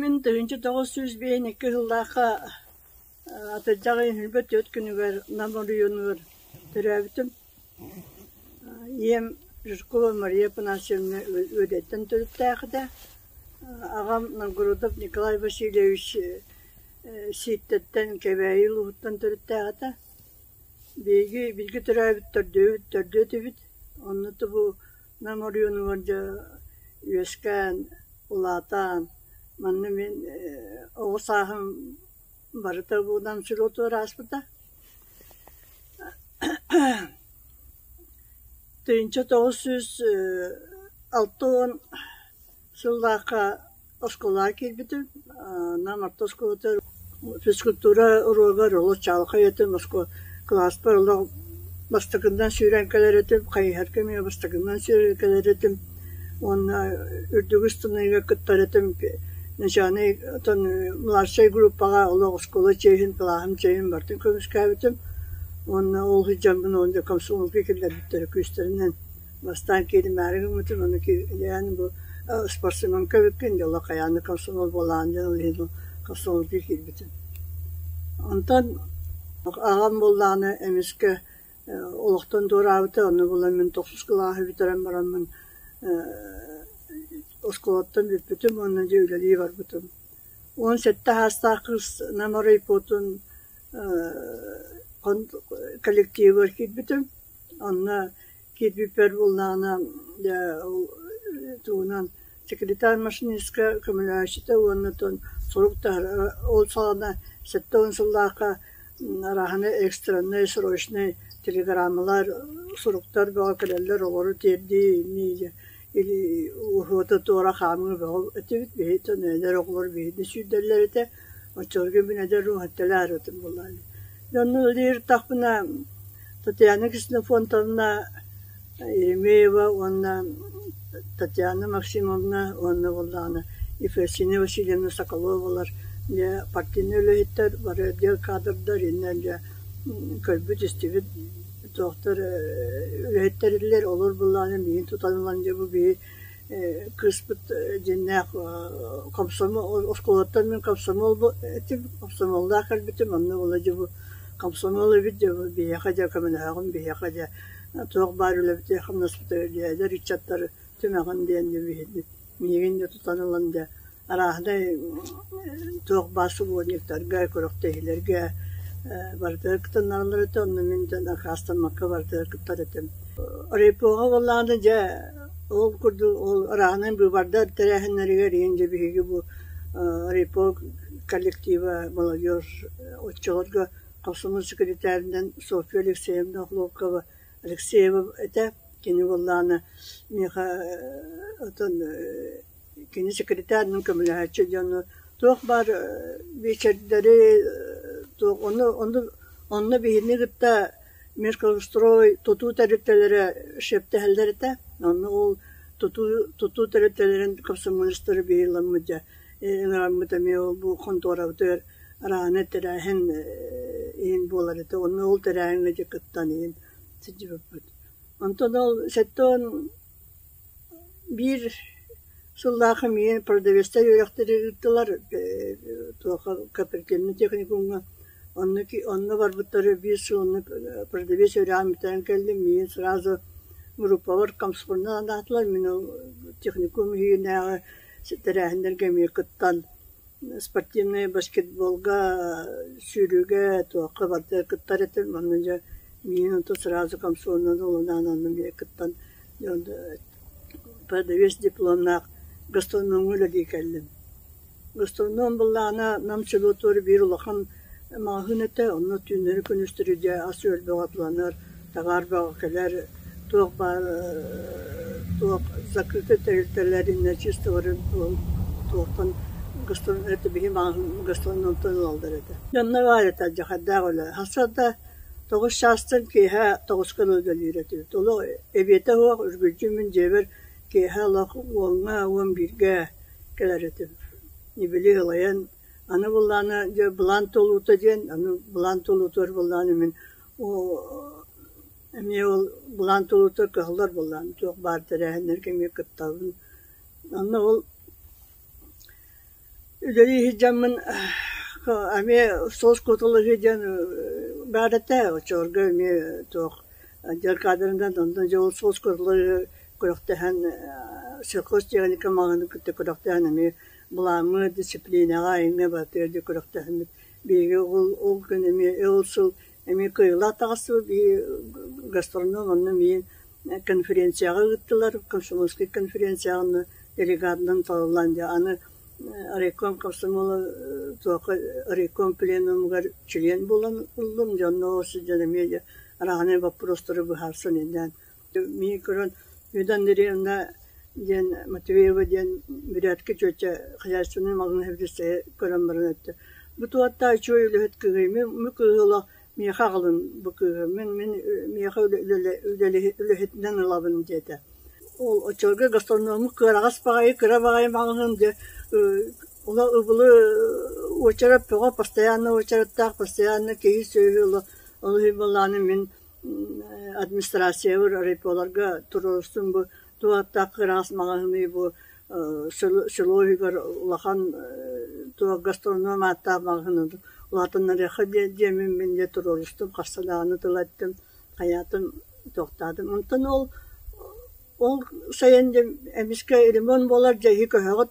Мин тыһыынча тоҕус сүүс биээн икки сыллаахха атырдьаҕын хилбэ түөрт күнүгэр нам оройуонугар төрөөбүтүм ийэм Жиркова Мария Панасьевна Үөдэттэн төрүттээхитэ аҕам Новгородов Николай Васильевич Сииттэттэн Кэбээйи улууһуттан төрүттээхитэ Биһиги бииргэ төрөөбүттэрдии төрдүө этибит, онно Нам оройуонугар дьэ үөскээн, улаатан, манна мин оҕо сааһым барыта Будан сүрүотугар ааспыта. Тыйынча тоҕус сүүс алта уон Сыллаахха оскуолаҕа киирбитим, анам орто оскуолатыгар физкультура уруогар олус чаҕылхай этим, кылааспар олох бастакыннан сүүрэн кэлэр этим, хайыһар кэмигэр бастакыннан сүүрэн кэлэр этим уонна үрдүгү ыстыныыга кыттар этим, начальнай оттон младшай группаҕа олох оскуола чиэһин, кылааһым чиэһин барытын көмүскээбитим уонна ол сылдьаммын комсомолга киллэрбиттэрэ күүстэринэн. Бастаан кииримээри гыммытым, ону киирэн бу спортсменка бүккүн дьэ олох хайаан да комсомол буолаҕын диэн ыллыыбын, комсомолга киирбитим. Онтон аҕам буоллаҕына эмискэ олохтон туораабыта, ону булан мин тохсус кылааһы бүтэрэн бараммын оскуолаттан бүппүтүм уонна дьэ үлэлии барбытым. Уон сэттэ саастаах кыыс Нам оройпуотун коллективыгар киирбитим, онно Киирбиппэр буоллаҕына тугунан секретарь машинистка көмөлөөччүтэ уонна сурук таһыраа ол саҕана сэттэ уон сыллаахха арааһаны экстреннэй срочнай телеграммалар суруктар бөҕө кэлэллэр оҕолору тиэрдии уһуота туора хаамыы бөҕө этибит биһиттэн эдэр оҕолор биһигини сүүрдэллэр этэ Оччолорго мин эдэр руһатталаарытым буолаары Дьоннук ылыыртахпына Татьяна Ксенофонтовна Еремеева уонна Татьяна Максимовна уонна буоллаҕына Ефросина Васильевна Соколовалар дьэ партийнай үлэһиттэр бары отдел кадрдар иннэ дьэ көрбүт-истибит туохтар үлэһиттэриллэр олор буоллаҕына миигин тутан ылан дьэ бу биһи кыыспыт дьиннээх комсомол оскуолаттан мин комсомол этим комсомоллаах кэлбитим онно ыладьы бу комсомол эбит дьэ бу биһиэхэ дьэ көмөлөөҕүм биһиэхэ дьэ туох баар үлэбитэ хамнаспыта эдэр ыччаттары түмэҕин диэн дьэ миигин дьэ тутан ылан дьэ арааһынай туох баар субуонньуктарга, күрэхтэһиилэргэ барытыгар кытынналлар этэ, онно мин да накаастаммакка барытыгар кыттар этим. Оройпоҕа буоллаҕына дьэ ол курдук ол арааһынай быыбардар тэрээһиннэригэр ийин дьэ биһиги бу Оройпо коллектива молодежь оччолорго хомсомол секретаринан Софья Алексеевна Охлопкова Алексеева этэ. Кини буоллаҕына миэхэ оттон Кини сэкиритээринэн көмөлөһөөччү дьону туох баар биэчэрдэри туох ону ону онно биһини кытта Меркострой тутуу тэрилтэлэрэ шефтэһэллэр этэ, онно ол тутуу тутуу тэрилтэлэрин комсомолецтары биһиэламмыт дьэ ыҥыраммыт эмиэ бу хонтуорабытыгар арааны тэрээһин иһин буолар этэ, онно ол тэрээһиҥҥэ дьэ кыттан иһин сылдьыбыппыт. Онтон ол сэттэ уон Биир сыллаах эмиэ продавецтар үөрэхтэри ыыттылар туохха Копыркиҥҥа техникумҥа. Онно онно барбыттара биир сыл онно продавец үөрэҕин бүтэрэн кэллим. Миигин сразу группабар комсомолунан анаатылар. Мин ол техникум иһинээҕи тэрээһиннэргэ эмиэ кыттан Спортивнай баскетболга, сүүрүүгэ туохха барыта кыттар этим. Манна дьэ минуту сразу комсомолунан ылынаан аннын диэки кыттан продавец дипломнаах гастрономҥа үлэлии кэллим. Гастроном буоллаҕына Нам село туора биир улахан Маҕаһыын этэ, онно түүннэри күнүстэри дьэ ас-үөл бөҕөтүлэнэр, таҥаар бөҕө кэлэр, туох баар туох закрытый тэрилтэлэр иннэ чисталарын туохтан биһи маҕаһыын гастроном онтон ылаллар этэ. Дьонно баайата дьахардаах үлэ. Сарсыарда тоҕус чаастан киэһэ тоҕус хонук үлэлиир этибит. Олох эбиэтэ суох, үргүлдьү мин дьиэбэр киэһэ олох уоҥҥа уон бииргэ кэлэр этим. Ньибили ылайан Аны былаана дьэ былаан толуута диэн аны былаан толуутугар былааны мин эмиэ ол былаан толуутугар кыһаллар былаан туох баар тэрээһиннэргэ эмиэ кыттабын. Онно ол үлэлии сылдьаммын эмиэ соҕус куоталаһыы диэн баар этэ оччолорго эмиэ туох дьиэ каадырынан онно дьэ ол соҕус куоталаһыы күрэхтэһэн сельхоз техника маҕаһыынын кытта күрэхтэһэн эмиэ Былааҥҥа, дисциплинаҕа, айыҥҥа барыта өр да күрэхтэһиммит. Биһиги ол, ол күн эмиэ, ол сыл эмиэ кыайыылаах таҕыстыбыт. Биһиги гастроном онно миин конференцияҕа ыыттылар, комсомольскай конференцияҕа онно делегатынан талыллан дьэ аны райком комсомола туохха райком пленумугар член буолан ыллым дьэ онно сылдьан эмиэ дьэ араҕанай боппуруостары быһаарсан идээн Мин көрөн Людмила Андреевна диэн Матвеева диэн бүрээдкэ чүөчэ хозяйственнай малын иһитиннэстэһи көрөн баран эттэ «Бу туоттаа үчүгэй үлэһит кыыһый, мин мин кыыһылаах миэхэ аҕалыҥ бу кыыһым, мин мин миэхэ үлэлэһитинэн ылабын» диэтэ. Ол оччолорго гастрономмут кыараҕас баҕайы, кыра баҕайы маҕаһыын диэн ула ыбылы уочарат бөҕө постоянно уочараттаах постоянно киһи-сүөһү ыла ол былааны мин Администрациябар райполорго туруорустум бу туу аттаах кыраас маҕаһыыны бу село иһигэр улахан туу гастроном ааттаах маҕаһыыны улаатыннарыахха диэммин мин дьэ туруорустум харса даҕаны тыла эттим хайаатым туохтаатым онтон ол ол сайын дьэ эмискэ ремонт буолар дьэ иһи көһөҕүт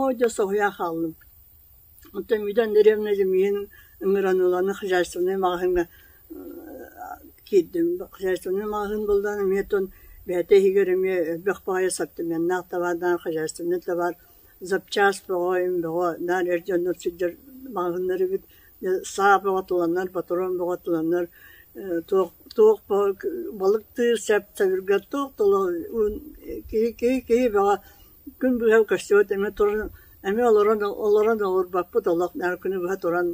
Оо дьэ соһуйа хааллым. Оттон Миидэн дэриэбинэ дьимиһин ыҥыраныланы хозяйственнай маҕаһыыҥҥа киирдим. Хозяйственнай маҕаһыын буллан эмиэ тон бэйэтэ иһигэр эмиэ элбэх баҕайы ассортиментнаах табаардаах хозяйственнай табаар запчаас бөҕө-им бөҕө наар эр дьоннор сылдьар маҕаһыыннар эбит. Саа бөҕөтүлэннэр, ботуруон бөҕөтүлэннэр туох туох балыктыыр сэп-сэбиргэл туох да олох киһи киһи киһи бөҕө күн быһа көстүбэт эмиэ туран эмиэ олорон олорон олорбоппут олох наар күнү быһа туран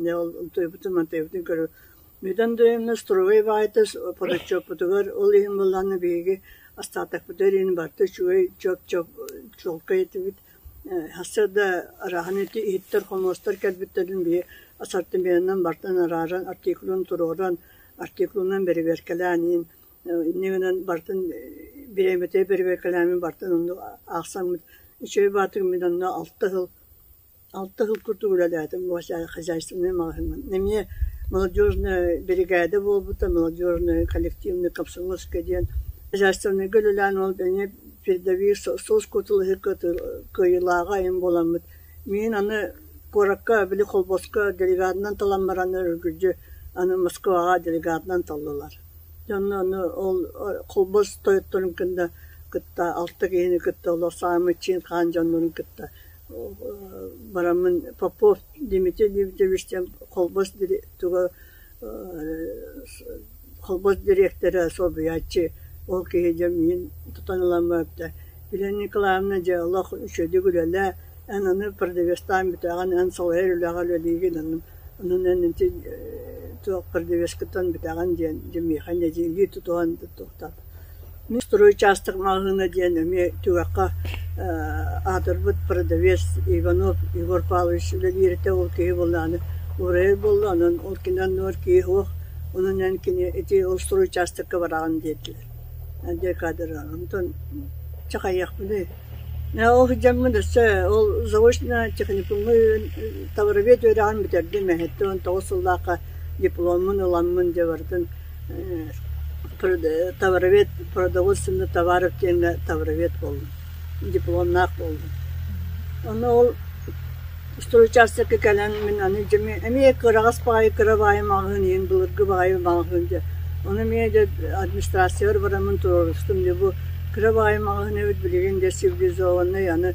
утуйбутум утуйбутум көрү Мидан Дөйөмнөс Туругай баайытас Подочоппутугар ол иһин быллааны биһиги астаатахпыта иһин барта үчүгэй чоп-чоп чолко этибит Хассарда арааханы иһиттэр хомуостар кэлбиттэрин биһи ассортиментынан бартан арааран артикулун туруоран артикулунан бэрибиэркэлээн иһин инньэ гынан бартын бириэмэтэ бэрэбиэркэлээммин бартын онно аахсаммыт үчүгэй баатырмын онно алта сыл алта сыл курдук үлэлээтим бу хозяйственнай маҕаһыынынан эмиэ молодежная биригээдэ буолбута молодежная коллективный комсомольская диэн хозяйственнайга үлэлээн ол эмиэ передовик соус кутулаһы кыайыылааҕа айан буоламмыт миин аны куоракка били холбоско делегатынан талан баран өргүлдьү аны москваҕа делегатынан таллылар Онно аны ол холбос тойотторун кытта кытта алта киһини кытта олор саамай чиэн хаан дьоннорун кытта бараммын Попов Дмитрий Дмитриевич диэн холбос туга холбос дириэктэрэ солбуйааччы ол киһи дьэ миин тутан ылан барбыта Елена Николаевна дьэ олох үчүгэйдик үлэлээ эн аны продавецтаан бүтээҕин эн салайар үлэҕэр үлэлиигин аны Онон эн ити туох кырдьыгыскытын бүтэҕин диэн дьэ миэхэ нэдиэлэ тутуһан туттуохтаах. Мин строй учаастак маҕаһыына диэн эмиэ түгэххэ аатырбыт продавец Иванов Егор Павлович үлэлииритэ ол киһи буоллаҕына уурайар буолла. Онон ол киниттэн оннугар киһи суох. Онон эн кини ити ол строй учаастакка бараҕын диэтилэр. Эн декадыраҕын. Онтон чахайыахпыный Ол сыдьаммын өссө ол заочно-техникумҥа товаровед үөрэҕин бүтэрдим эһиттэ уон тоҕус сыллаахха дипломмун ыламмын дьэ барытын товаровед продовольственный товаров диэҥҥэ товаровед буоллум, дипломнаах буоллум. Онно ол Устуруй учаастакка кэлэн мин аны дьэ эмиэ эмиэ кыраҕас баҕайы кыра баайым алҕаһын иһин былыргы баайым алҕаһын дьэ ону эмиэ дьэ администрацияҕа бараммын туруорустум дьэ бу кыра баайым алҕаһын эбит билигин дьэ цивилизованнай аны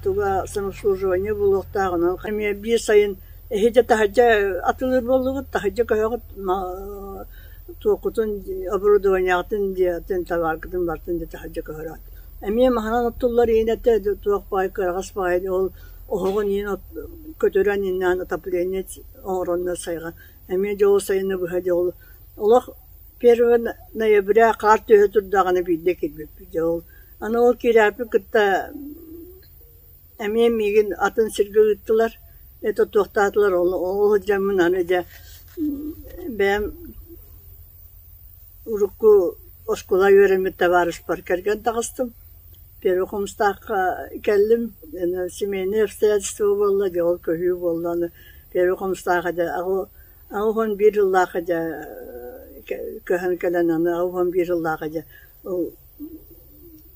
туга самообслуживание булуохтаах онон эмиэ биир сайын эһиэдэ таһырдьа атылыр буоллубут таһырдьа көһөҕүт туоххутун оборудованиеҕытын дьиэҕитин табааргытын бартын дьэ таһырдьа көһөрөт Эмиэ маһынан оттуллар иһин этэ туох баай кыраҕас баҕайы ол оһоҕун иһин көтүрэн иҥнээн отопление оҥоронно сайҕан эмиэ дьол сайыны быһа дьол олох первый ноября хаар түһэ турдаҕына биирдэ киирбиппит дьэ ол аны ол киирээппит кытта эмиэ миигин атын сиргэ ыыттылар это туохтаатылар ол ол сылдьаммын аны дьэ бэйэм урукку оскуола үөрэммит табаарыспар кэргэн таҕыстым Первый Хомустаахха кэллим семейное обстоятельство буолла дьэ ол көһүү буолла аны Первый Хомустааха дьэ аҕыс уон биир сыллаахха дьэ көһөн кэлэн аны аҕыс уон биир сыллааҕы дьэ ол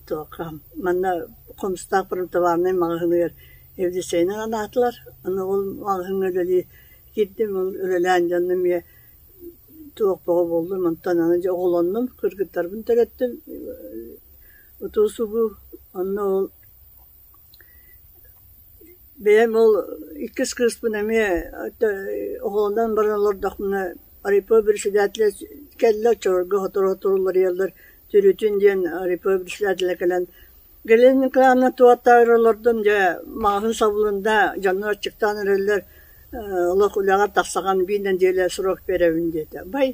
Туохха, манна Хомустаах правдавальнай маҕаһыыныгар Евдичейынан анаатылар. Аны ол маҕаһыыҥҥа үлэлии киирдим, ол үлэлээн дьонно эмиэ туох бөҕө буоллун, онтон аны дьэ оҕолоннум, кыргыттарбын төрөттүм. Утуу-субуу онно ол бэйэм ол иккис кыыспын эмиэ оҕолонон баран олордохпуна, райпо бэрэссэдээтэлэ кэллэ, оччолорго сотору-сотору уларыйаллар Түрүтүн диэн Republic издателэ кэлэн «Глен Кланы туота эрэ олордум, дьэ, маҕаһыын сабылында, дьоннор аччыктаан эрэллэр, олох үлэҕэр тахсаҕын, биир нэдиэлэ срок биэрэбин» диэтэ. «Бай,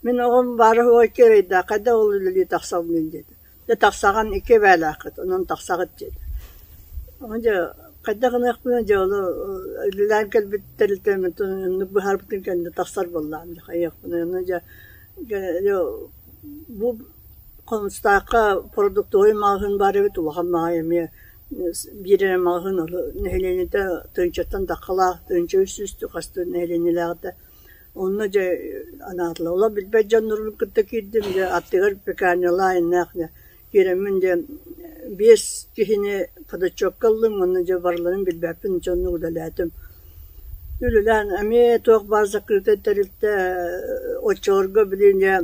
мин оҕом баара уһуой кыарайда, хайдах ол үлэлии тахсабыный?» диэтэ. «Дьэ, тахсаҕын икки эбээлээххит, онон тахсаҕыт» диэтэ. Ону дьэ хайдах гыныахпына дьэ ону үлэлээн кэлбит тэрилтэ оннук быһаарбытын кэннэ тахсар буоллаҕым дии хайыахпыный, ону дьэ Бу Хомустаахха продуктовай маҕаһыын баар эбит, улахан маҕай эмиэ биир эрэ маҕаһыын нэһилиэнньэтэ Тыынчаттан Даххалаах Тыынча үс үстүү хас да нэһилиэнньэлээҕитэ онно дьэ анаатылар. Олох билбэт дьоннорбун кытта киирдим, дьэ аттыгар пекарнялаах иннинээҕи Киирэммин диэн биэс киһини ходачокка ыллым уонна дьэ барыларын билбэппин дьэ онно удалээтим. Үлэлээн эмиэ туох баар закрытый тэрилтэ оччолорго билин дьэ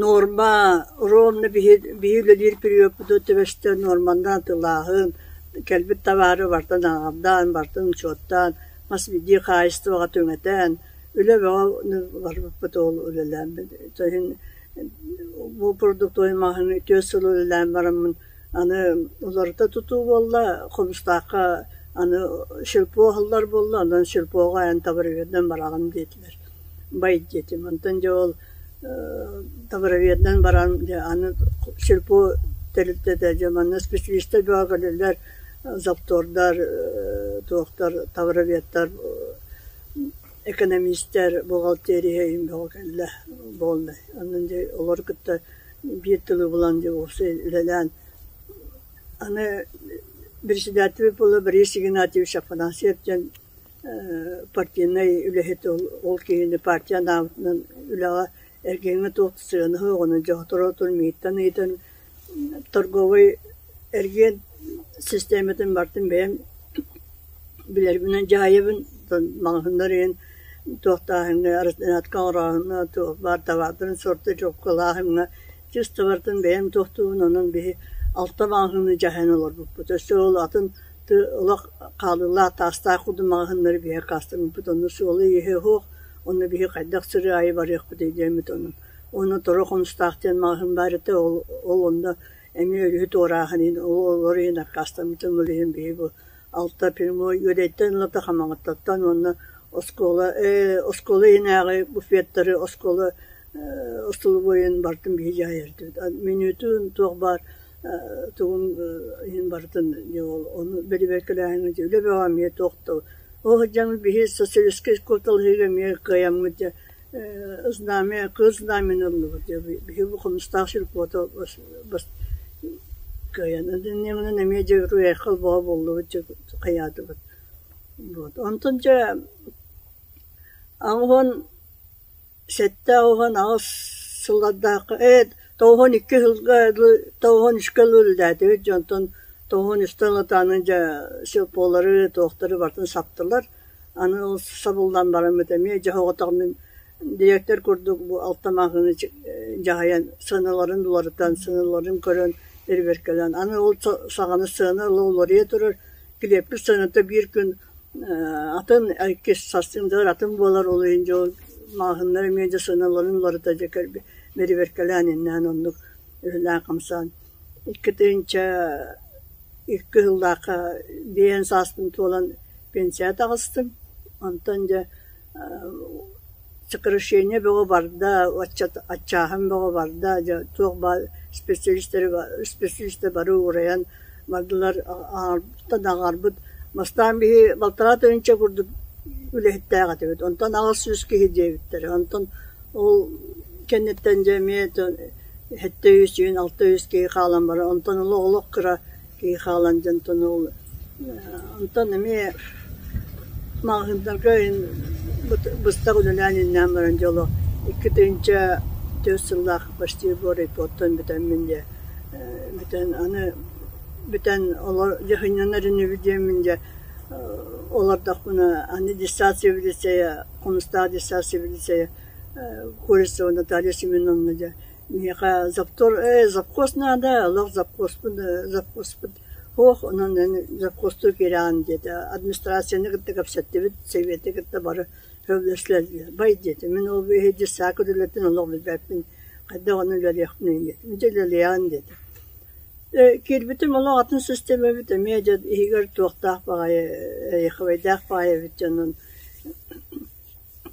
норма ровно биһи үлэлиир периоппутут түбэстэ нормандан атылааһын кэлбит табаары бартан аҕардаан бартан учуоттаан мас бидии хаайыстыбаҕа түҥэтээн үлэ бөҕө барбыппыт ол үлэлээн то иһин Бу продуктовай-маһын үтүө сылы үлэлээн бараммын аны уларыта тутуу буолла, Хомустаахха аны сельпо аһыллар буолла, онон сельпоҕа эн табароведынан бараҕын диэтилэр. Бай диэтим, онтон дьэ ол табароведынан баран аны сельпо тэрилтэ да дьэ манна специалистар бөҕө кэлэллэр, заптордар, туохтар, табароведтар экэнэмиистэр, бухгалтерия иһин бөҕө кэллэ буолла. Онон дьэ олору кытта биир тылы булан дьэ уопсай үлэлээн аны председатель буола Борис Игнатьевич Афанасьев диэн ээ партийнай үлэһит ол ол киһини партия анаабытынан үлэҕэ эргиҥҥэ туох сыанаһы оҕону дьохторотор мииттэн ыйытан Торговый эргиэн систиэмэтин бартын бэйэм билэрбинэн дьаһайабын, маҕаһыыннар ыйан туохтааһыҥҥа, араснатка оҥорооһуҥҥа, туох баар табаардарын сорта чуоскалааһыҥҥа чисто бартын бэйэм туохтуубун онон биһи алта маҕаһыыны дьаһайан олорбуппут. Өссө ол атын олох хаалыылаах таастаах курдук маҕаһыыннары биһиэхэ хаастарбыппыт, онно суолу-ииһи оһуох, онно биһи хайдах сыры аайы барыахпытый диэммит онон Уонна тура хомустаах диэн маҕаһыын баар этэ, ол ол онно эмиэ өрүһү туорааһын иһин ол олор иһин аккаастаммытым, ол иһин биһи бу алта прямой Үөдэйттэн Ылата Хамаҕаттаттан уонна оскуола ээ оскуола иһинээҕи буфеттары оскуола ээ остолобуойун бартын биһи дьаайардыбыт. Мүнүүтүн туох баар ээ тугун ээ иһин барытын дьэ ол ону бэдибиэркэлээһиҥҥэ дьэ үлэ бөҕө эмиэ туох да оо дьаҥы биһи социалистскай куоталаһыыга эмиэ кыайаммыт дьэ Знамя, кыыс знамяны ыллыбыт дии, биһи бу Хомустаах Сельпото кыайан ынынныаҕынан эмиэ дьэ уруйайхал бөҕө буоллубут дьэ хайаатыбыт. Вот онтон дьэ аҕыһын сэттэ аҕыһын аҕыс сыллардаахха ээ тоҕуһун икки сылга тоҕуһун үскэ ыла үлэлээтибит дьэ онтон тоҕуһун үстэ ыла ытаанан дьэ Сельполары, туохтары барытын саптылар. Аны ол сабыллан бараммыт эмиэ дьаһаҕытаҕынан дириэктэр курдук бу алта маҕаһыыны дьаһайан сыаналарын уларытан, сыаналарын көрөн ирибэркэлээн аны ол саҕана сыана ыла уларыйа турар килиэппит сыаната биир күн атын иккис сарсыҥдыгар атын буолар ол иһин дьэ ол маҕаһыыннар эмиэ дьэ сыаналарын уларыта дьэ мэрибэркэлээн иннинэ оннук үһүлээн хамсаан иккитинчэ икки сыллаахха биээн сааспын туолан пенсия таҕыстым. Онтон дьэ сокращение бөҕө барда, аччааһын бөҕө барда, дьэ туох баар специалистары бары уурайан бардылар, аҕарбыттан аҕарбыт. Бастаан биһи балтараа тыһыынча курдук үлэһиттээх этибит, онтон аҕыс сүүс киһи диэбиттэрэ. Онтон ол кэнниттэн дьэ эмиэ Сэттэ үс сүүн алта үс киһи хаалан баран онтон ыла олох кыра киһи хаалан дьонтону онтон эмиэ маҕаһыыннарга быстах үлэлээн ииннээн баран дьэ олох икки тыһыынча түөрт сыллаах почти райпортан бүтэммин дьэ бүтэн аны бүтэн олор дьэ сынньанар инибит диэммин дьэ олордохпуна аны диссат цивилизация хомустаах диссат цивилизация Курица Наталья Семеновна дьэ миэхэ завтор ээ завхоз наада олох завхозпун завхозпут суох онон эн завхозтуу киирэҕин диэтэ администрацияны кытта кэпсэттибит сэбиэти кытта бары сөбүлэстилэр диye бай диэтэ мин ол иһирдьэ саакка үлэлэтэн олох билбэппин хайдах ону үлэлиэхпиний диэтим дьэ үлэлиэҕин диэтэ дьэ киирбитим олох атын система эбит эмиэ дьэ иһигэр туохтаах баҕайы эйэхэбэйдээх баҕайы эбит дьэ онон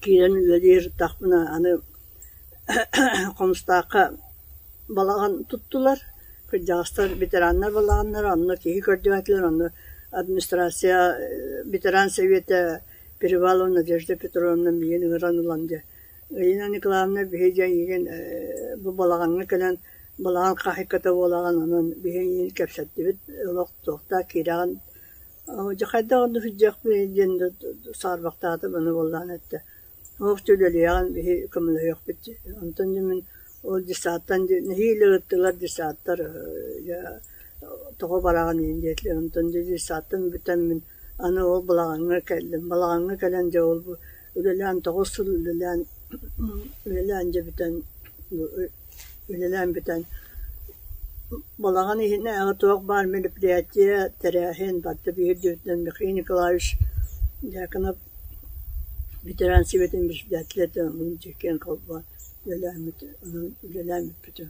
Киирэн үлэлиир ытахпына аны Хомустаахха балаҕан туттулар. Кырдьаҕастар ветераннар балаҕаннара, онно киһи көрдүбээтилэр, онно администрация ветеран сэбиэтэ Перевалова Надежда Петровна миигин ыҥыран ылан дьэ Ирина Николаевна биһи дьэ эйигин бу балаҕаҥҥа кэлэн балаҕан хаһыйката буолаҕын онон биһи эйигин кэпсэттибит, олох туохтаах киирэҕин Дьэ хайдах да сылдьыахпыный диэн да саарбахтаатым аны буоллаҕына эрдэ туох дьэ үлэлиэҕин биһи көмөлөһүөхпүт дии онтон дьэ мин ол десантан дьэ нэһиилэ ыыттылар десантар дьэ тоҕо бараҕыный диэтилэр онтон дьэ десантын бүтэн мин аны ол балаҕаҥҥа кэллим балаҕаҥҥа кэлэн дьэ ол Үлэлээн тоҕус сыл үлэлээн үлэлээн дьэ бүтэн үлэлээн бүтэн балаҕан иһинээҕи туох баар мероприятие тэрээһин барыта биһирдиибитинэн Михаил Николаевич Дьяконов ветеран сэбиэтин председателэ диэн киэн холбоон үлэлээммит үлэлээн бүппүтүм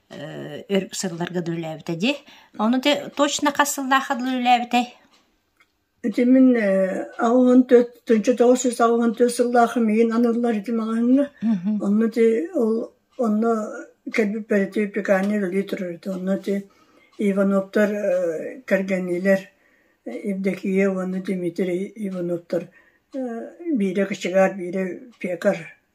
өр сылларга да үлээбитэ дии. Ону те точно хас сыллаахха да үлээбитэй? Ити мин аҕыһын төрт тынчы тоҕус үс аҕыһын төрт сыллаахы миин аналлар ити маҕаһыҥҥа. Онно ти ол онно кэлбиппэр ти пекарня үлэлии турар ити. Онно ти Ивановтар кэргэниилэр Евдокия уонна Дмитрий Ивановтар биирэ кочегар, биирэ пекарь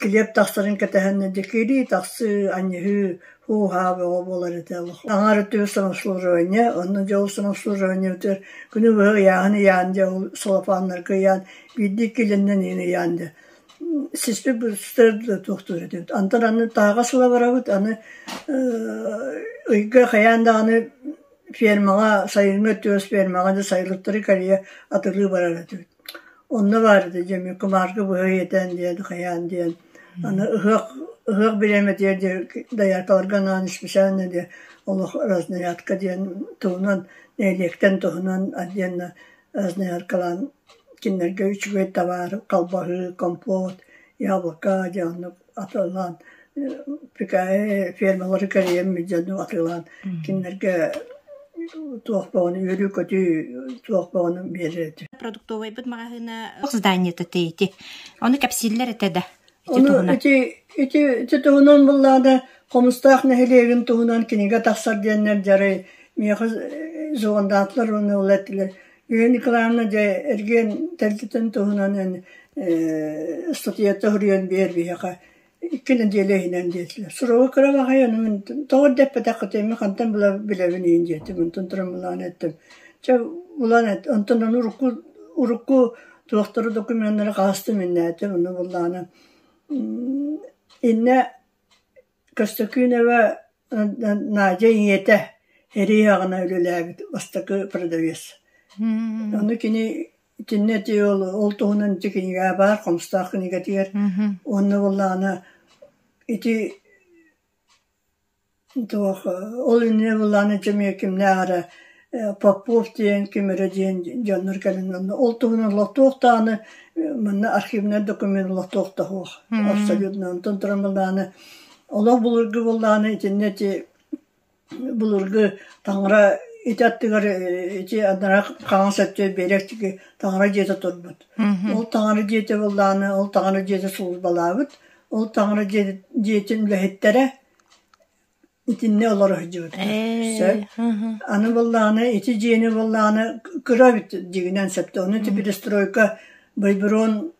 Килиэп тахсарын кэтэһэннэ дьэкиирии тахсыы, анньыһыы, һуу-һаа бөҕө буолар этэ олох. Аҥаара тыа самообслуживания, онно дьэ ол самообслуживаниябытыгар күнү быһа ыйааһын ыйаан дьэ ол солопуоннарга ыйаан биирдии иккиэлэннэн иһин ыйаан дьэ сиспит бырастар да туохтуур этибит. Онтон аны таһаҕас ыла барабыт, аны ыйга хайаан даҕаны фермаҕа, сайыҥҥы өттүгэр фермаҕа дьэ сайылыктары кэрийэ атылыы барар этибит. Онно баарда диэн мин кумаарга быһа иэтэн диэн хайаан диэн аны ыһыах ыһыах бириэмэтигэр диэри дояркаларга анаан исписээнэ диэн олох разноядка диэн туһунан нэһилиэктэн туһунан отдельно разноядкалаан кинилэргэ үчүгэй табаар, халбаһыы, компот, яблоко дьэ оннук атылаан фермалары кэрийэн дьону атыылаан кинилэргэ туох бөҕөнү үөрүү-көтүү туох бөҕөнү биэрэр этэ. Продуктовайбыт маҕаһыына зданиета ити. Ону кэпсииллэр этэ да. Ону ити ити ити туһунан буллаада хомустаах нэһилиэгин туһунан кинигэ тахсар диэннэр дьарай миэхэ зоондаатылар уонна ол эттилэр Ева Николаевна дьэ эргиэн тэрилтэтин туһунан эн э ыстатыйата суруйан биэр биһиэхэ икки нэдиэлэ иһинэн диэтилэр. Суруга кыра баҕайы ону мин тоҕо да эппэтэххитий мин хантан була билэбин иһин диэтим онтон туран булаан эттим. Чэ булан эт онтон ону урукку урукку туохтары документнары хаастым иннээтим ону буллаана иннэ Көссөкүүнэбэ Надя ийэтэ эрийэҕинэ үлэлээбит бастакы продавец. Ону кини итиннэ ити ол ол туһунан ити кинигэ баар Хомустаах кинигэтигэр уонна буоллаҕына ити туох ол иннинэ буоллаҕына дьэ эмиэ кимнээх эрэ Попов диэн, Күмүрэ диэн дьоннор кэлэн ылла. Ол туһунан олох туох даҕаны манна архивнай документ олох туох да суох. Абсолютно онтон туран былааны олох былыргы былааны итиннэ ити былыргы таҥара ити аттыгар ити анара хаҥас өттө биэрэктики таҥара дьиэтэ турбут. Ол таҥара дьиэтэ былааны, ол таҥара дьиэтэ сулбалаабыт. Ол таҥара дьиэтин үлэһиттэрэ итиннэ олоро сылдьыбыттар. Сөп. Аны буоллаҕына ити дьиэни буоллаҕына кыра эбит дьигинэн сөптөөх. Ону ити перестройка Байброн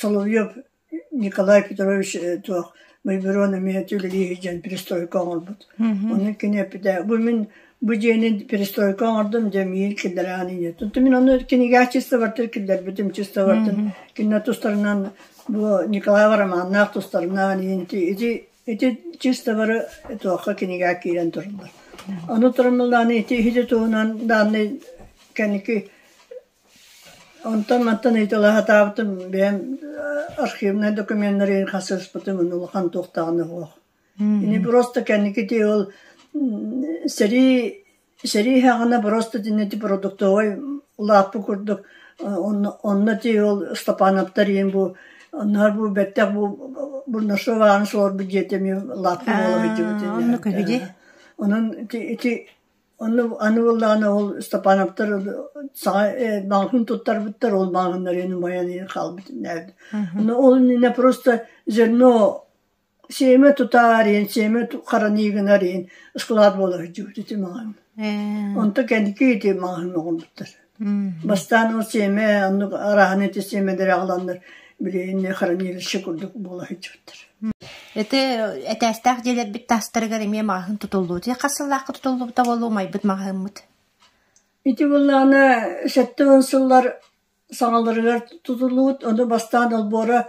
Соловьев Николай Петрович туох Байброн эмиэ үлэлии сылдьан перестройка оҥорбут. Ону кини эппитэ бу мин бу дьиэни перестройка оҥордум дьэ миигин киллэрээҕин инньэ. Туту мин ону кинигэчистовартан киллэрбитим чистовартан кинилэр тустарынан бу Николаева Романнаах тустарынан ити Ити чисто бары туохха кинигэ киирэн тураллар. Ону турумнуллааны ити иһити туһунан даанны кэнники онтон мантан ыйытылаһатаабытым бэйэм архивнай документнарыын хасыспытым улахан туохтаҕына суох. Ини просто кэнники тыы ол сэрии Сэрии иһэҕинэ просто итиннэ продуктовай улааппыт курдук онно онно ити ол Ыстапаанаптар ийэм бу оннооҕор бу бэттэх бу Бурнашов ааны суорбут дьиэтэ эмиэ улааппыт буола биллибит ини. Онно көһү дии. Онон ити ити онно аны буоллаҕына ол Ыстапаанаптар саҕа маҕаһын туттарбыттар ол маҕаһыннар ини умайан хаалбыт иннээбит. Онно ол иннинэ просто зерно Сиэмэ тутаар иһин, сиэмэ хараныы гынар иһин ыскылаат буола сылдьыбыт ити маҕаһыын. Онто кэнники ити маҕаһыын оҥорбуттар. Бастаан ол сиэмэ оннук арааһын ити сиэмэлэри аҕаланнар били инньэ хранилище курдук буола сылдьыбыттар. Ити этээстээх дьиэлэрбит таастарыгар эмиэ маҕаһыын тутуллубут. Хас сыллаахха тутуллубута буолуо майбыт маҕаһыыммыт? Ити буоллаҕына сэттэ уон сыллар саҕаларыгар тутуллубут, ону бастаан олбуора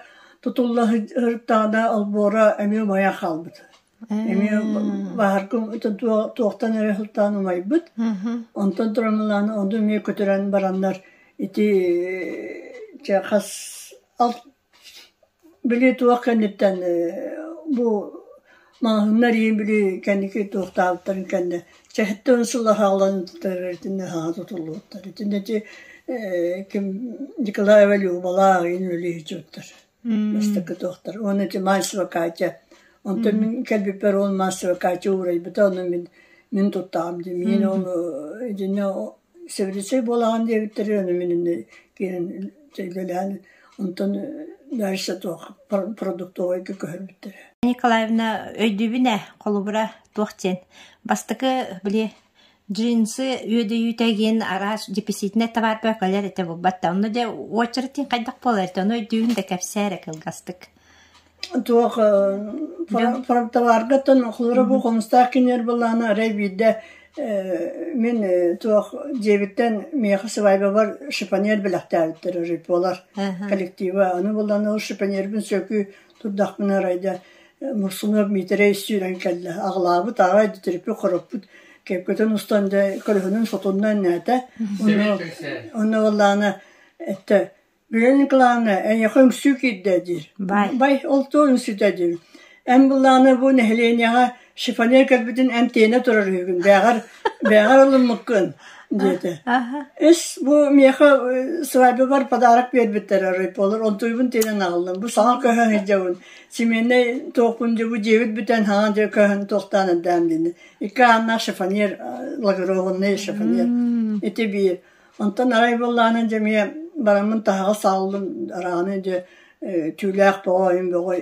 тутулла сырыттаҕына олбуора эмиэ умайан хаалбыт. Эмиэ баһарга туохтан эрэ сылтаан умайбыт. Онтон турамылаан ону эмиэ көтүрэн бараннар ити чэ хас Били туох кэнниттэн ээ бу маҕаһыыннар ийин били кэнники туохтаабыттарын кэннэ чэһиттэн сыла хаалан сытарыттынна саҥа тутуллубуттар. Итиннэчи ээ ким Николай Валюбалаах ийин үлүһүччүттэр бастакы туохтар. Уонна ити маастер Катя онтон мин кэлбиппэр уол маастер Катя уурайбыта онно мин мин туттаҕым дии. Мин ону итиннэ Сөбүлэччэй буолаҕын диэбиттэрэ аны мин иннэ киирэн дьиэлээн онтон дальше туох продуктовайга көһөрбүттэрэ Николаевна өйдүүбүн ээ холобура туох диэн бастакы били джинсы үөдэйиитэ диэн араас деписитнай табаар бөкөлөр этэ буолбат да онно дьэ уочаратыын хайдах буолар этэ ону өйдүүбүн да кэпсээ эрэ кылгастык Туох фронтоваргаттан хлоробу хомустаах киниэр былаана арай биирдэ мин туох дьиэбиттэн миэхэ свадьбабар шипоньер бэлэхтээбиттэр рыпуолар коллектива аны булан ол шипоньербын сөкү турдахпына арайда Мурсунов Миитэрэй сүүрэн кэллэ аҕылаабыт аҕай тириппит хороппут кэккэтин устан дьэ көлөһүнүн сотунна энээтэ онно онно ыллаана эттэ Бэйэ Ньукулаана, эйиэхэ үҥсүү киирдэ дии, бай, ол туох үҥсүтэ дии, эн былаана бу нэһилиэнньэҕэ шифоньер кэлбитин эмтэнэ турар үһүгүн, бээҕэр бээҕэр ылыммыккын, диэтэ. Ис бу миэхэ свадьбабар подарок биэрбиттэр райполор, онтуйбун тиэнэн аҕаллым. Бу саҥа көһөн сылдьабын, семейнай туохпун дьэ бу дьиэбит бүтэн хаҥан дьэ көһөн туохтаан эрдээн диэни. Икки ааннаах шифоньер, благородный шифоньер, ити биир. Онтон арай буоллаҕына дьэ эмиэ бараммын таһаҕас сааллым араҕаны дьэ түүлээх бөҕө бөҕө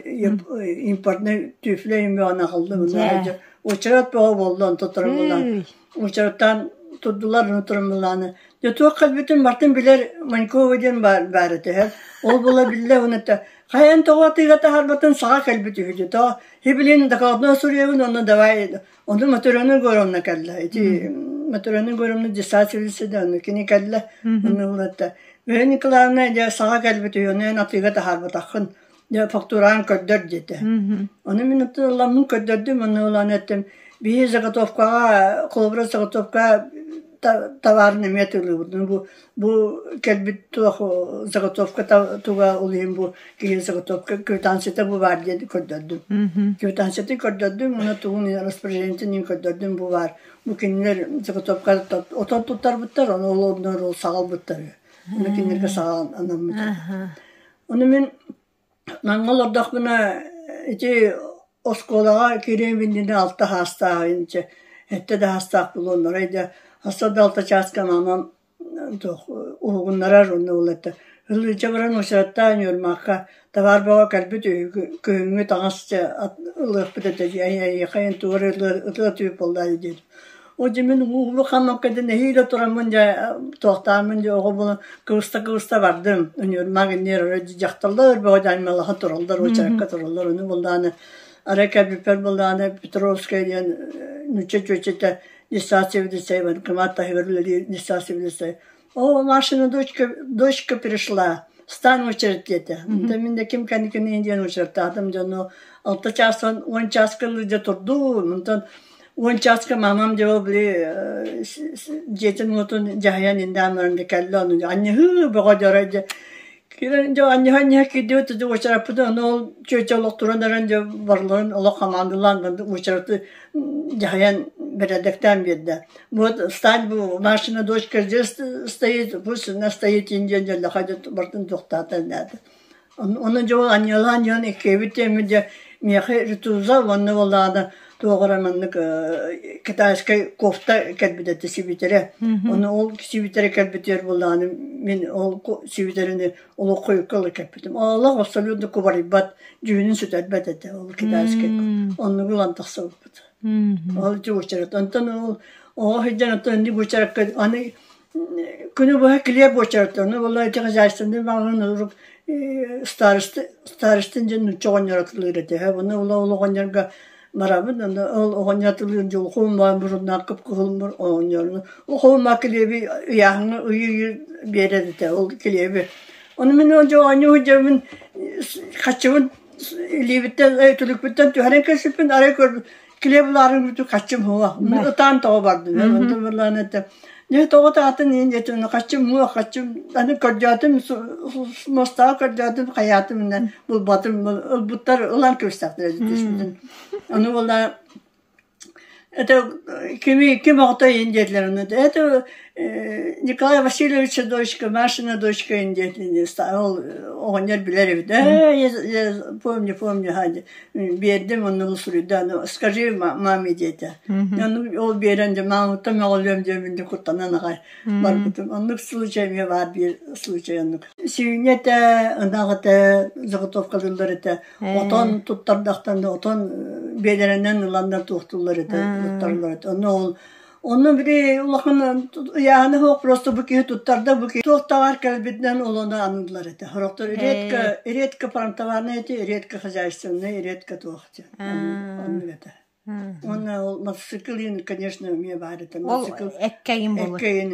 импортнай түфлэ бөҕөнү аҕаллым дьэ учарат бөҕө буолла онтон туран буоллаҕына учараттаан турдулар аны туран буоллаҕына дьэ туох кэлбитин бартын билэр Манькова диэн баара түһэр ол була биллэ уонна хайан тоҕо атыыга таһаарбатын саҕа кэлбит үһү дии то и блин так одно сурьегын онно давай Ону Матрена Егоровна кэллэ. Ити Матрена Егоровна десательница да ону кини кэллэ. Ону ыллатта. Мөһө Николаевна дьэ саҕа кэлбит үһү, ону эн атыыга таһаарбатаххын. Дьэ фактураан көрдөр диэтэ. Ону мин ытыламмын көрдөрдүм, ону ылан эттим. Биһи заготовкаҕа, холобура заготовка товарын эмиэ тылыыбытын. Бу Бу кэлбит туох заготовка туга ол иһин бу киһи заготовка квитанцията бу баар диэн көрдөрдүм. Квитанцияты көрдөрдүм, уонна тугун распоряжениетин иһин көрдөрдүм бу баар. Бу кинилэр заготовка отон туттарбыттар, ону олоннор ол саҕалбыттар. Уну кинилэргэ саҕаланаммыт. Ону мин Наҥҥа олордохпуна ити оскуолаҕа киириэм иннинэ алта саастааҕын чэ эрдэ да саастаах буолуоннарай да хаста да алта чааска маанан туох уһугуннарар уонна ол эрэ ыалдьыта баран уочараттаан ньурмаахха табаар бөҕө кэлбит үһү күһүҥҥү таҥас ылыахпыт этэ дии эйиэхэ эн тугу эрэ ытыа ытыа түһүп буоллаа дии диэтим Ол дьэ мин улаханнан кэдэ нэһиилэ тураммын дьэ туохтааммын дьэ оҕо булан кырыста-кырыста бардым. Өнүөрмаг иннигэр өрө дьахталлар бөҕө даймалаха тураллар, очеркка тураллар. Ону булдааны ара кэрбиппэр булдааны Петровская диэн нуучча чүөчэтэ Неса цивилизация, кымаат таһыгар үлэлиир Неса цивилизация Оо, Машина дочка, дочка пришла, стан очередь диэтэ. Онтон мин да ким кэнникинии диэн очередтаатым дьону алта чаастан уон чааска илдьэ турдуун. Онтон уон чааска мамам дьэ били дьиэтин уотун дьаһайан индаамларын да кэллэ ону анньыһыы бөҕө дьоро дьэ Киирэн дьэ анньыһа-анньыһа киирдибит да уочараппытын аны ол чүөчэ олох туран эрэн дьэ барыларын олох хамаандалаан уочараты дьаһайан бэрээдэктээн биэрдэ. Вот встань машина дочка здесь стоит пусть она стоит индиэн дьэллэхэ дьэ бартын тохтаата нээтэ. Ону дьэ анньылаан дьон иккиэбит тэммит дьэ миэхэ ритуза уонна буолаана Туох эрэ маннык китайскай кофта кэлбитэ да сибитэрэ. Ону ол сибитэрэ кэлбитигэр буоллаҕына мин ол сибитэрини олох хойукка ыла кэппитим. Олох абсолютно кубарыйбат, дьүһүнүн сүтэрбэт этэ ол китайскай. Оннугу ылан тахса ылбыт. Ол чугучарат. Онтон ол оҕо сылдьан оттон аны Күнү быһа килиэп буочаратынны буолла ити хозяйственный маҕаһыын урук старостин дьин нучча оҕонньоротулуур этэ үһү буну була ол оҕонньорго барабын аны ол оҕонньоротулуур дьулхуум баан муруннаах кыпкыһылмыр оҕонньорну ухуумма килиэби ыйааһыҥҥа ыйыы биэрэр этэ ол килиэби ону мин ол дьоҕонньо сылдьабын хаччыбын илиибиттэн түлүкпүттэн түһэрэн кэспиппин арай көрбүт киле буларын бүтү каччым хуга ытаан тоҕо бардым онтон бырлаан этэ не тоҕо таатын иин этин каччым муа каччым аны көрдөөтүм мостаҕа көрдөөтүм хаятым инен булбатым ылбуттар ылан кырыстахтар түспүтүн аны була это кими ким охто иин диэтлэр аны это Николай Васильевича дочка Машина дочка иин диэтлин ол оҕонньор билэр эбит э я помню помню хади биэрдим оннугу суруйда аны скажи маме диэтэ ону ол биэрэн дьэ мааныттан мөҕүлүөм диэмин дэ куттанан аҕай барбытым оннук случай эмиэ баар биир случай оннук сиюня этэ ынах этэ заготовка дыллар этэ отон туттардахтан отон биэлэринэн ыланнар туохтуллар этэ туттарлар этэ ону ол Онно били улаханын ыйааһына суох просто бу киһи туттарда бу киһи туохтаҕар кэлбитинэн олону аныыллар этэ. Сорохтор редко редко пантоварнай эти, редко хозяйственный, редко туох диэн. Онну этэ. Уонна ол мотоциклин, конечно, эмиэ баар этэ. Ол эккэйин болот. Эккэйин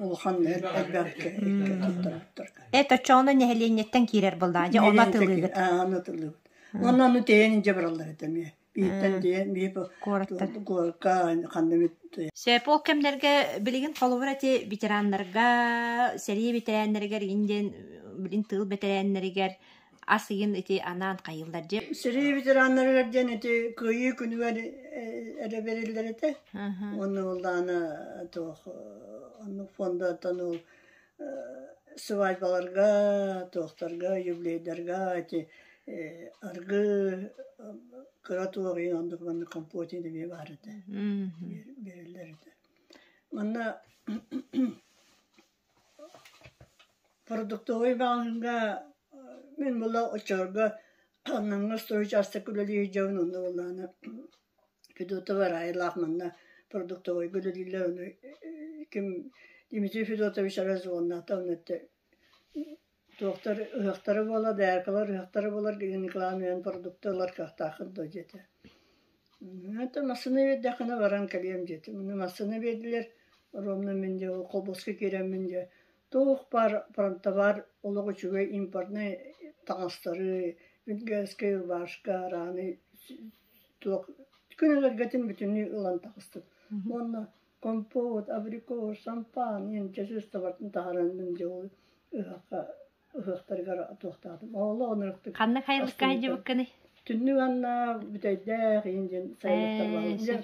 улахан элбэккэ эккэ Это чоно нэһилиэнньэттэн киирэр былдаа. Дьэ, она тылыгыт. Аа, она тылыгыт. Онно аны тэйэн дьэ бараллар этэ эмиэ. Бииртэн тиийэн биир куораттар куоракка ханна бүт Сээп ол кэмнэргэ билигин холобур эти ветераннарга, сэрии ветераннарыгар игин диэн билин тыыл бэтэрээннэригэр ас ыйын ити анаан хайыллар дьэ. Сэрии ветераннарыгар диэн ити кыйыы күнүгэр эрэ бериллэр этэ. Онну уллаана тоох онну фондаттан ол Свадьбаларга, туохтарга, юбилейдарга эти аргы кыра туоҕуйан оннук маннык компотины эмиэ баар этэ биэрэллэр этэ манна продуктовый бааһыҥҥа мин була оччолорго аннаҥҥа сто учаастак үлэлии сылдьабын онно буоллаҕына Федотова Раилаах манна продуктовойга үлэлииллэр ону ким Дмитрий Федотович Аразоннаата ону өттө туохтар ыһыахтара буолла дээркалар ыһыахтара буолар гыҥкылаан ыйан продукты ылар кыахтааххын дуо диэтэ это массыына биэрдэххинэ баран кэлиэм диэтим массыына биэрдилэр ровно мин дьэ холбоско киирэммин дьэ Туох-баар фронтовар олох үчүгэй импортнай таҥастары, венгерскэй, рубашка, раны туох күнэлэргэтин бүтүннүү ылан таҕыстым. Уонна компот, абрикос, шампан ийэн чочустабартан таһаран мин дьэ ол ыһахха ыһыахтарыгар туохтаатым. Олоҕун ырыктык. Ханна хайылыкка хайдьыбыккыный? Түннүк анна бүтэйдээх ийэн дьин сайылыктар бааллар.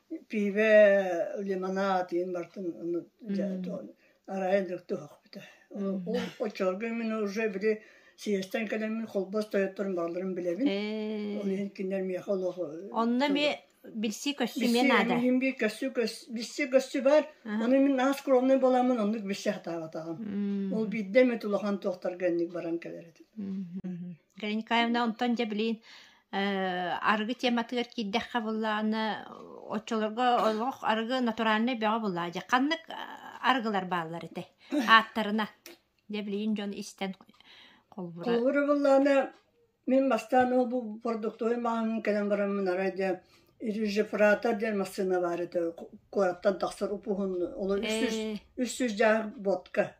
пиибэ лимонад иһин бартын ону арайан да туһахпыта ол оччолорго мин уже били съезтэн кэлэммин холбос тойотторун баалларын билэбин ол иһин кинилэр миэхэ олоху онно эмиэ билсии көстүмүө наада билсии билсии көстүү баар ону мин аас скромный боламмын оннук билсэ сатаабатаҕым ол биирдэ эмит улахан туохтарга инник баран кэлэр этим Гренькаевна, онтон дьэ билигин э, арыгы тематыгар киирдэххэ буллаҕына, оччолорго олох арыгы натуральнай бөҕө буллаҕа дьэ. Ханнык арыгылар бааллар этэй? Ааттарына. Дьэ билигин дьон истэн холбура. Холбура буллаҕына, мин бастаан ол бу продуктовый маһын кэлэн бараммын арай дьэ Режифрата диэн массыына бар этэ. Куораттан тахсар упуһун. Ол үс жүз, үс жүз дьаах ботка.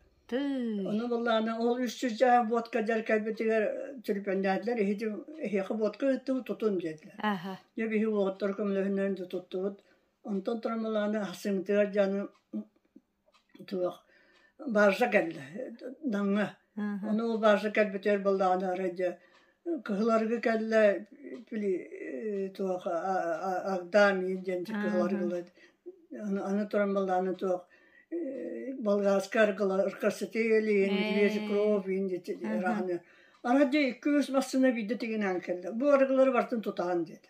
Ону буллаҕына ол үс чуждааҕы буотка дьар кэлбитигэр түрпэннээтилэр иһити эһиэхэ буотка ыыттыбыт тутун диэтилэр. Дьэ биһи уоһуттар көмөлөһүннэрин тутуттубут. Онтон турамалааны ахсымытыгар дьаны туох бааржа кэллэ Намҥа. Ону ол бааржа кэлбитигэр буллаҕына арай дьэ Кыһыларыгы кэллэ били туох Агдаам иин диэн кыһыларыгылыт аны туран балааны туох болгарскай аргыларкасытыы илиин вежи кровь иин дити ырааһаны ана дьэ икки үс массыына биирдэ тигинээн кэллэ бу арыгылары бартын тутаан диэтэ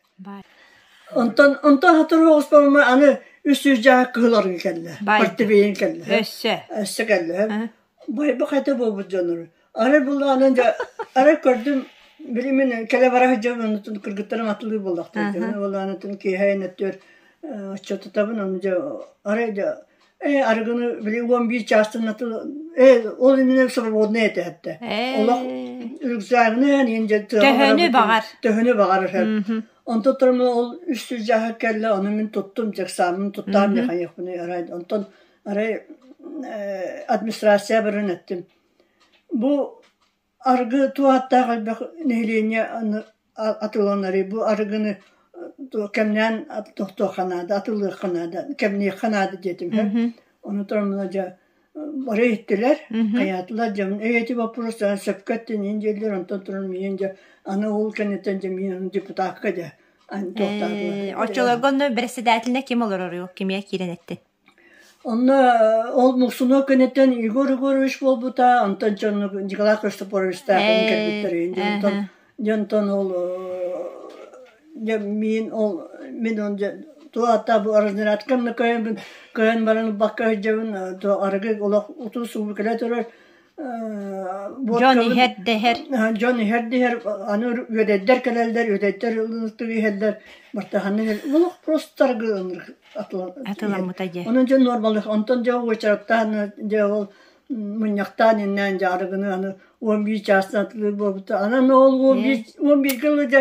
Онтон онтон сотору оҕуспоммор аны үс сүүс дьааһык кыһыл арыгы кэллэ. Партибиин кэллэ. Өссө. Өссө кэллэ. Байбах этэ буолбут дьоннору. Арай буллаҕынан дьэ арай көрдüm били мин кэлэ бара сылдьабын онтон кыргыттарым атылыы буллахтар. Буллаҕынан отчуотутабын аны дьэ арай дьэ Э, арыгыны били уон биир чаастан аты э, ол именно свободный этэ этэ. Олох үрүксээҕинэн иһин төһөнү баҕар. Төһөнү баҕар эһэр. Онтон тұрмы ол үстүз жаһы кэлле, оны мен туттум, жексамын туттаам яханехпуны арай. Онтон арай администрация барын эттим. Бу Аргы туох ааттаах элбэх нэһилиэнньэ аны атыланарый? Бу арыгыны кэмнээн тохтуохха наада, атыллыахха наада, кэмниэххэ наада диэтим иһэ. Ону туран мана дьэ бары иһиттилэр, хайаатылар. Дьэ мин ити боппуруостара сөпкө эттиниин дииллэр, онтон туран миигин дьэ аны ол кэнниттэн дьэ миигин депутакка дьэ аны тохтоотулар. Оччолорго онно бэрэссэдээтэлинэ ким олороруй, кимиэ киирэн эттин? Онно ол мусунуо кэнниттэн Егор Егорович буолбута, онтон дьону Николай Христофоровичтаах кэлэн кэлбиттэрин дьонтон дьонтон ол дьэ миин ол мин ол дьэ туох аата бу разнарядка кыайан баран ылбакка сылдьабын арыгы олох утус сурук кэлэ турар дьон иһэр дэһэр дьон иһэр дэһэр аны үөдэйдэр кэлэллэр үөдэйдэр ылыктык иһэллэр бартаханна иһэр олох простаргы атыламыта дьэ онон дьон нормалык онтон дьэ уочараттаан дьэ ол мунньахтаан иннээн дьаарыгыны аны он бир чаастан атылыыр буолбута анан ол он бир он бирге дьэ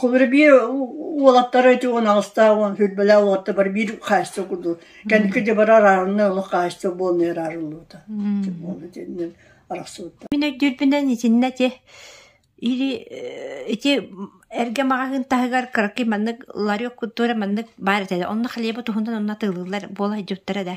Кубура биир уолаттара ити уон аҕыстаах уон сүүрбэлээх уолаттар биир хаачча курдук кэнники дьабара араарынна олох хаачча буолан араарыллыбыта буолла итиннэн арахсыбыттар Мин өйдүүрбүнэн итиннэ ити или ити эргэ маҕаһыын таһыгар кыракый маннык ларек культура маннык баар этэ онно халеба туһунан онно атыылыыллар буола сылдьыбыттара да